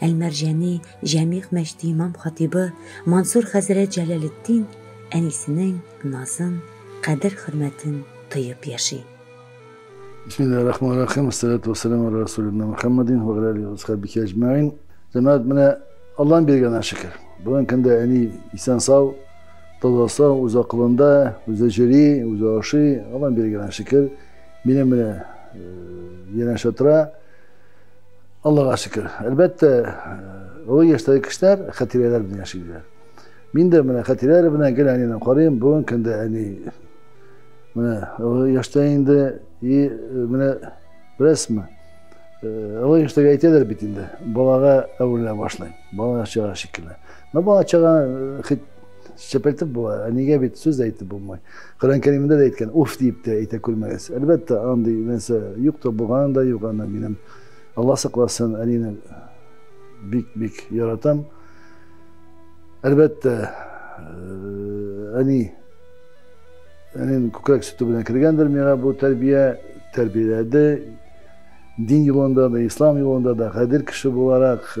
Әлмәрҗәни, Җәмигъ мәчте имам-хатибы Мансур хәзрәт Җәләлетдин әнисенең назын, кадер-хөрмәтен тоеп яши. Бисмиллаһи рахмани рахим. Ассалату вассаламу аля расулина Мухаммадин ва гали асхабихи аҗмаин. Җәмәгать менә Аллаһның биргәненә шөкер. Бүгенге көндә әни исән сау, таза сау, үз акылында, үзе җөри, үзе ашый. Аллаһның биргәненә шөкер. Минем менә янәшә тора. Аллага шөкер. Әлбәттә, олы яшьтәге кешеләр хәтирәләр белән яшиләр. Мин дә менә хәтирәләр белән гел әнине карыйм. Бүген көндә әни менә олы яшьтә инде и менә беләсезме? Олы яшьтәге әйтәләр бит инде, балага әверелә башлый. Бала чага шикелле. Но бала чага хит чәпәлтеп була, әнигә бит сүз дә әйтеп булмый. Коръән Кәримдә дә әйткән, уф дип тә әйтә күрмәгез. Әлбәттә, андый нәрсә юк та булганы да юк, аны минем Алла сакласын, әнине бик бик яратам. Әлбәттә, әни әнин күкрәк сөте белән кергәндер миңа бу тәрбия, тәрбияләде. Дин юлында да, ислам юлында да гадел кеше буларак,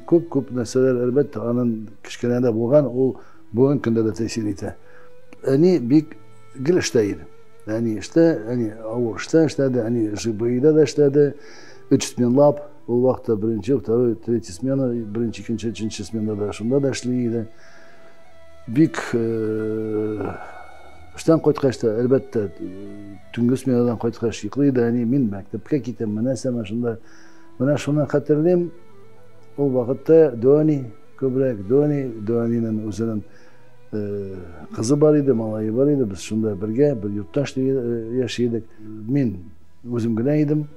күп-күп нәрсәләр әлбәттә аның кечкенәдә булган, ул бүгенге көндә дә тәэсир итә. Әни бик гел эштә иде. Әни эштә, әни авыр эштә эшләде, әни ЖБИда да эшләде. Өч сменлап, ул вакытта беренче, второй, третий смена, беренче, икенче, өченче смена да шунда да эшли иде. Бик э, эштән кайткач та, әлбәттә, төнге сменадан кайткач йоклый иде әни, мин мәктәпкә китәм, менә сәмә шунда. Менә шуны хәтерлим, ул вакытта Дони күбрәк, Дони, Донинен үзенең Кызы бар иде, малайы бар иде, без шунда бергә, бер йортташ яши идек. Мин үзем генә идем.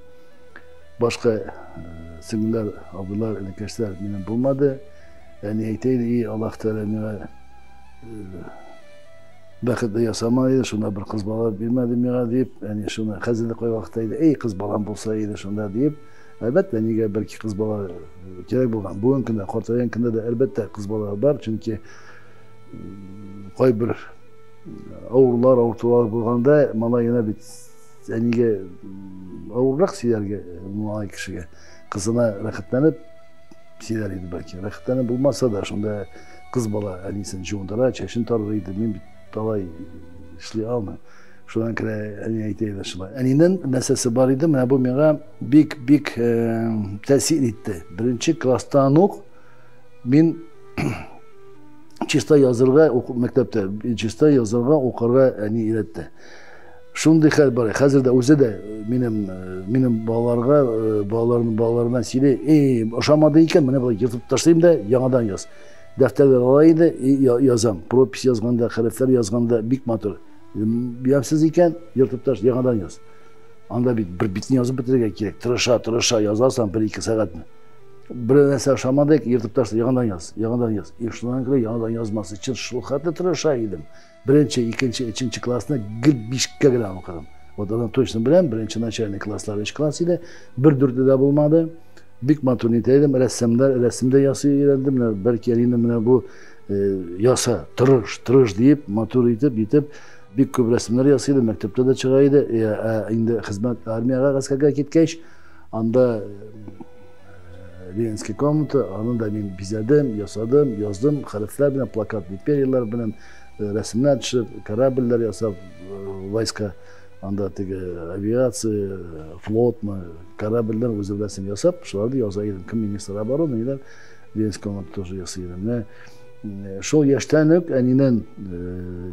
Башка сеңлеләр, абыйлар, энекәшләр минем булмады. Әни әйтә иде, и Аллаһ Тәгалә миңа бәхетле ясама иде, шунда бер кыз бала бирмәде миңа дип, әни шуны хәзер дә кайвакытта әйтә, ей кыз балам булса иде шунда дип, әлбәттә, нигә бәлки кыз бала кирәк булган. Бүгенге көндә, картайган көндә дә, әлбәттә, кыз бала бар, чөнки кайбер авырлар, авыртулар булганда малаена бит әнигә авыррак сөйләргә малай кешегә. Кызына рәхәтләнеп сөйләр иде бәлки. Рәхәтләнеп булмаса да, шунда кыз бала әнисен җуындыра, чәчен тарыр иде. Мин бит талай эшли алмыйм. Шуннан керә әни әйтә иде шулай. Әнинең нәрсәсе бар иде, менә бу миңа бик-бик тәэсир итте. Беренче класстан ук Мин чиста язырга мәктәптә чиста язырга укырга әни өйрәтте шундый хәл бар хәзер дә үзе дә минем минем балаларга балаларның балаларына сөйли эй ошамады икән менә болай ертып ташлыйм да яңадан яз дәфтәрләр ала инде язам пропись язганда хәрефләр язганда бик матур ямьсез икән ертып таш яңадан яз анда бит бер битне язып бетерергә кирәк тырыша тырыша язасың бер ике сәгатьне Бер нәрсә ошамадык, ертып ташла, яңадан яз, яңадан яз. И шуннан күрә яңадан язмасы өчен шул хәтле тырыша идем. Беренче, икенче, өченче классны гел бишкә генә укыдым. Вот аны точно беләм, беренче начальный класслар өч класс иде, бер дүрте дә булмады. Бик матур нитә идем, рәссамдар, рәсем дә ясый өйрәндем, менә бәлки әнине менә бу э, яса, тырыш, тырыш диеп, матур итеп, итеп, бик күп рәсемнәр ясый идем, мәктәптә дә чыга иде, э, ә инде хезмәт армиягә, гаскәргә киткәч, Анда Ленинский комната, аны да мин бизәдем, ясадым, яздым, хәрефләр белән, плакат империяләр белән, рәсемнәр төшеп, корабльләр ясап, войска, анда теге авиация, флотмы, корабльләр үзе беләсен ясап, шуларды яза идем. Кем министр обороны, ниләр, Ленинский комната тоже ясый идем. Менә шул яшьтән үк әнинен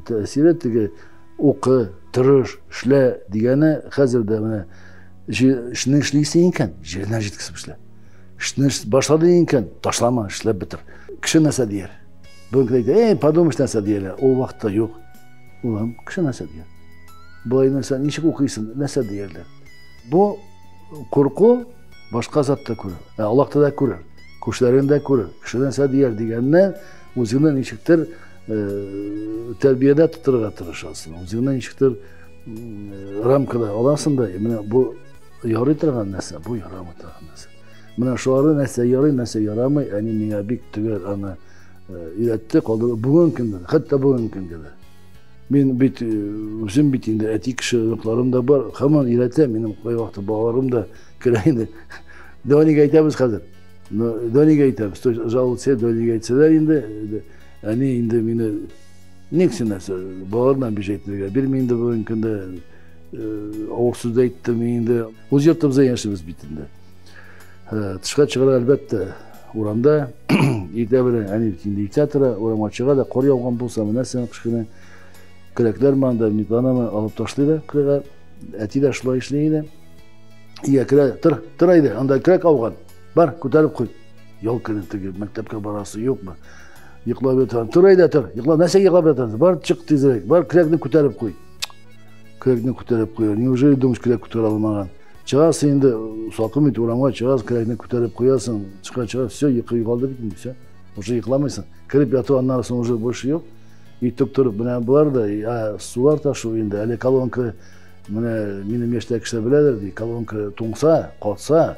тәэсире теге укы, тырыш, эшлә дигәне хәзер дә менә Эшне эшли исең икән, җиренә җиткесеп эшлә. Эшне башлады икән, ташлама, эшләп бетер. Кеше нәрсә дияр? Бүгенге әйтә, эй, подумаешь, нәрсә дияләр. Ул вакытта юк. Улым, кеше нәрсә дияр? Болай нәрсә, ничек укыйсың, нәрсә диярләр? Бу курку башка затта күрер. Ә Аллах да күрер. Күршеләрен дә күрер. Кеше нәрсә дияр дигәнне үзеңне ничектер тәрбиядә тотырга тырышасың. Үзеңне ничектер рамкада аласың да менә бу ярый торган нәрсә бу ярамый торган нәрсә менә шулары нәрсә ярый нәрсә ярамый әни миңа бик төгәл аны өйрәтте калды бүгенге көндә хәтта бүгенге көндә дә мин бит үзем бит инде әти кеше оныкларым да бар һаман өйрәтә минем кайвакыт балаларым да керә инде донигә әйтәбез хәзер донигә әйтәбез жаловаться донигә әйтсәләр инде әни инде мине Ник син нәрсә, балалардан биш әйтергә бирми инде бүгенге көндә, авыр сүз әйттем инде. Үз йортыбызда яшибез бит инде. Тышка чыгарга әлбәттә, урамда иртә белән әни инде иртә тора, урамга чыга да кар яуган булса, менә син кечкенә келәкләр манда, никланамы алып ташлый да кырга. Әти дә шулай эшли иде. Иә, керә, тыр, тыр әйдә, анда крәк ауган. Бар, күтәреп куй. Ял көне теге мәктәпкә барасы юкмы? Йоклап ятам. Тор әйдә, тор. Йокла, нәрсә йоклап ятасың? Бар, чык тизрәк. Бар, күкрәкне күтәреп куй. Күкрәкне күтәреп куя. Неужели думаешь, күкрәк күтәрә алмаган? Чыгасың инде, салкын бит, урамга чыгасың, күкрәкне күтәреп куясың. Чыга, чыга, все, йокы югалды бит инде, все. Уже йокламыйсың. Кереп яту аннан соң уже больше юк. Итеп торып, менә болар да, ә, сулар ташу инде. Әле колонка, менә минем яшьтәге кешеләр беләдер, ди, колонка туңса, катса,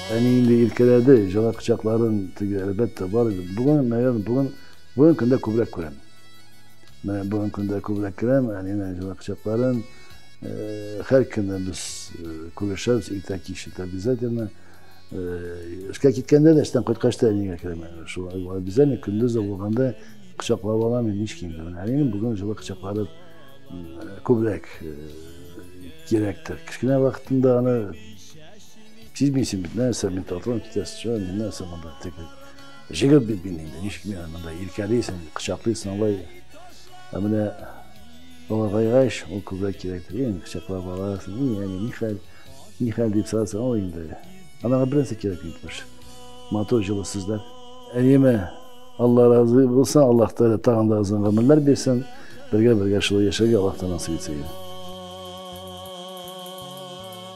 Әни инде иркәләде, җылы кочакларын теге, әлбәттә, бар иде. Бүген, наверное, бүген, бүген көндә күбрәк күрәм. Менә бүген көндә күбрәк күрәм, әнинең җылы кочакларын. Һәр көнне без күрешәбез, иртә кич, это обязательно. Эшкә киткәндә дә, эштән кайткач та әнигә керәм. Шул обязательно көндез дә булганда кочаклап алам, мин һич кимде. Менә әнинең бүген җылы кочаклары күбрәк кирәктер. Кечкенә вакытында аны Сизмисең бит, нәрсә мин татудан китәсе чыга, мин нәрсә монда теге. Җегет бит мин инде, ничек миңа монда иркәлисең, кочаклыйсың алай. Ә менә олыгайгач, ул күбрәк кирәктер. Ин, кочаклап аласың, ин, әни, ни хәл, ни хәл дип сорасаң, ул инде. Анага бернәрсә кирәк бит баш. Матур җылы сүзләр. Әниемә Алла разы булсын, Аллаһ Тәгалә тагын да озын гомерләр бирсен. Бергә-бергә шулай яшәргә Аллаһтан насыйп итсен.